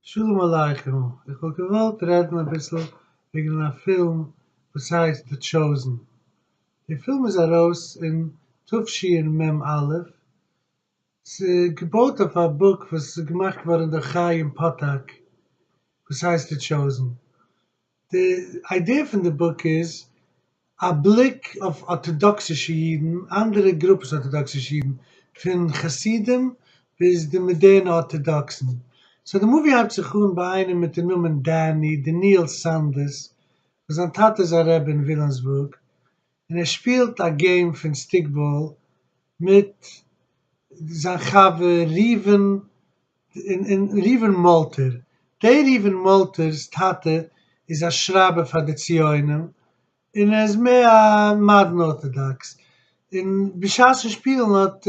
שלום עליכם, איך וואלט געוואלט רעדן אביסל וועגן א פילם וואס הייסט די טשאוזן, די פילם איז ארויס אין תשי ר מ א, ס'איז געבויט אויף א בוק וואס איז געמאכט געווארן דורך חיים פאטאק וואס הייסט די טשאוזן, די איידיע פון די בוק איז א בליק אויף ארטאדאקסישע אידן, אנדערע גרופעס ארטאדאקסישע אידן, פון חסידים ביז די מאדערנע ארטאדאקסן. סאו די מאווי הייבט זיך אן ביי איינעם מיטן נאמען דעני דניאל סאנדערס וואס זיין טאטע איז א רבי אין וויליאמסבורג, און ער שפילט א געים פון סטיקבאל מיט זיין חבר ראובן, און ראובן מאלטער, דער ראובן מאלטער'ס טאטע איז א שרייבער פאר די ציונים, און ער איז מער א מאדערן ארטאדאקס, און בשעת'ן שפילן האט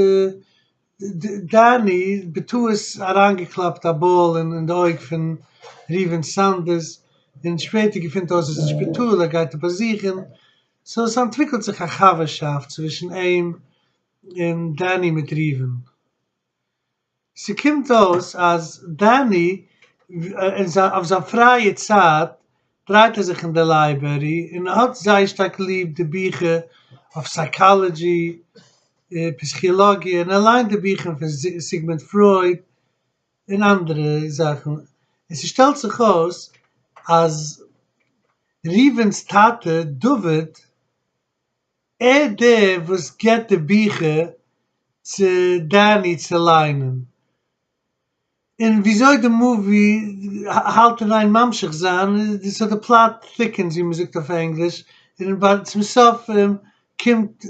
דארני בטעות אריינגעקלאפט א באל אין די אויג פון ראובן סאנדערס, און שפעטער געפונט אויס אז אין שפיטאל ער גייט ער באזוכן, סאו עס אנטוויקלט זיך א חבר'שאפט צווישן אים און דארני מיט ראובן. ס'קומט אויס אז דארני אויף זיין פרייע צייט דרייט ער זיך אין די לייברערי און האט זייער שטארק ליב די ביכער אויף סייקאלעדזשי און פסיכילאגיע און ער ליינט די ביכער פון סיגמונד פרויד און אנדערע זאכן און ס'שטעלט זיך אויס אז ראובן'ס טאטע דוד ער דער וואס געבט די ביכער צו דני צו ליינען און וויאזוי די מאווי האלט אין איין ממשיך זיין, סאו די פלאט טיקענס ווי מען זאגט אויף ענגליש, און ביי צום סוף קומט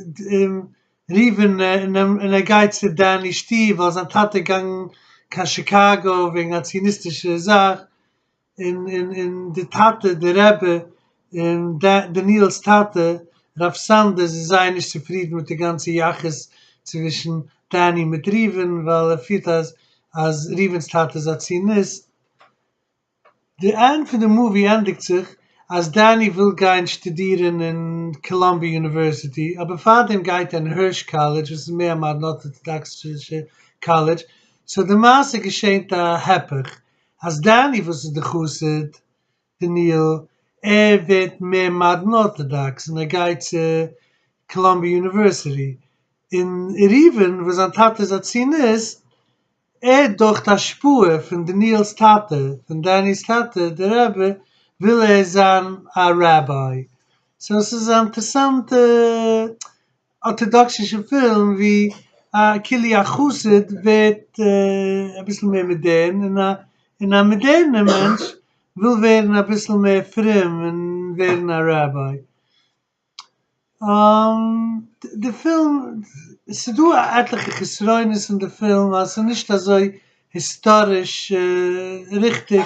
ריווען און ער גייט צו דעני שטוב ווייל זיין טאטע איז געגאנגען קיין שיקאגא וועגן א ציוניסטישע זאך, און און און די טאטע די רבי און דניאל'ס טאטע רב סאנדער זיי זייער נישט צופרידן מיט די גאנצע יחוס צווישן דני מיט ראובן ווייל ער פירט אז אז ראובן'ס טאטע איז א ציוניסט. די ענד פון די מאווי ענדיגט זיך אז דני וויל גיין שטודירן אין קאלאמביע יוניווערסיטי אבער פארדעם גייט ער אין הערש קאלעדזש וואס איז מער א מאדערן ארטאדאקסישע קאלעדזש, סאו די מעשה געשענט א הפך אז דני וואס איז די חסיד דניאל ער ווערט מער מאדערן ארטאדאקס און ער גייט צו קאלאמביע יוניווערסיטי, און ראובן וואס זיין טאטע איז א ציוניסט ער דורכט השפעה פון דניאל'ס טאטע פון דני'ס טאטע די רבי וויל ער זיין א ראביי, סאו עס איז א אינטערסאנטע ארטאדאקסישע פילם ווי א כלי החסיד ווערט אביסל מער מאדערן און א און א מאדערנער מענטש וויל ווערן אביסל מער פרום און ווערן א ראביי. די פילם, ס'דא עטליכע חסרונות אין די פילם אז ס'נישט אזוי היסטאריש ריכטיג,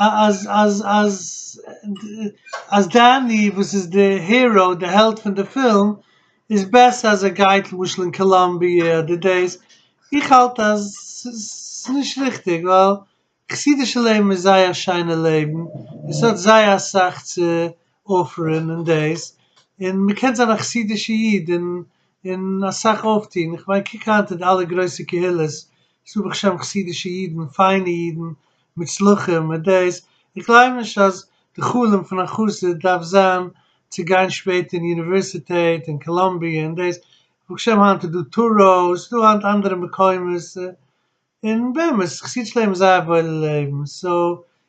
אז אז אז אז דעני וואס איז די הירא די העלד פון די פילם איז בעסער אז ער גייט למשל אין קאלאמביע אדער דאס, איך האלט אז ס'איז נישט ריכטיג ווייל חסידישע לעבן איז זייער שיינע לעבן און ס'האט זייער אסאך צו אפערען און דאס און מ'קען זיין א חסידישע איד און און אסאך אויפטוהן, איך מיין קוק היינט אין אלע גרויסע קהילות ס'דא ברוך השם חסידישע אידן, פיינע אידן, מוצלחים, מיט דאס, איך גלייב נישט אז די חלום פון א חסיד דארף זיין צו גיין שפעטער אין אוניווערסיטעט, אין קאלאמביע, און דאס, ברוך השם היינט איז דא טאראו, ס'דא היינט אנדערע מקומות, און באמת, חסידיש לעבן איז זייער וואוילע לעבן, סאו,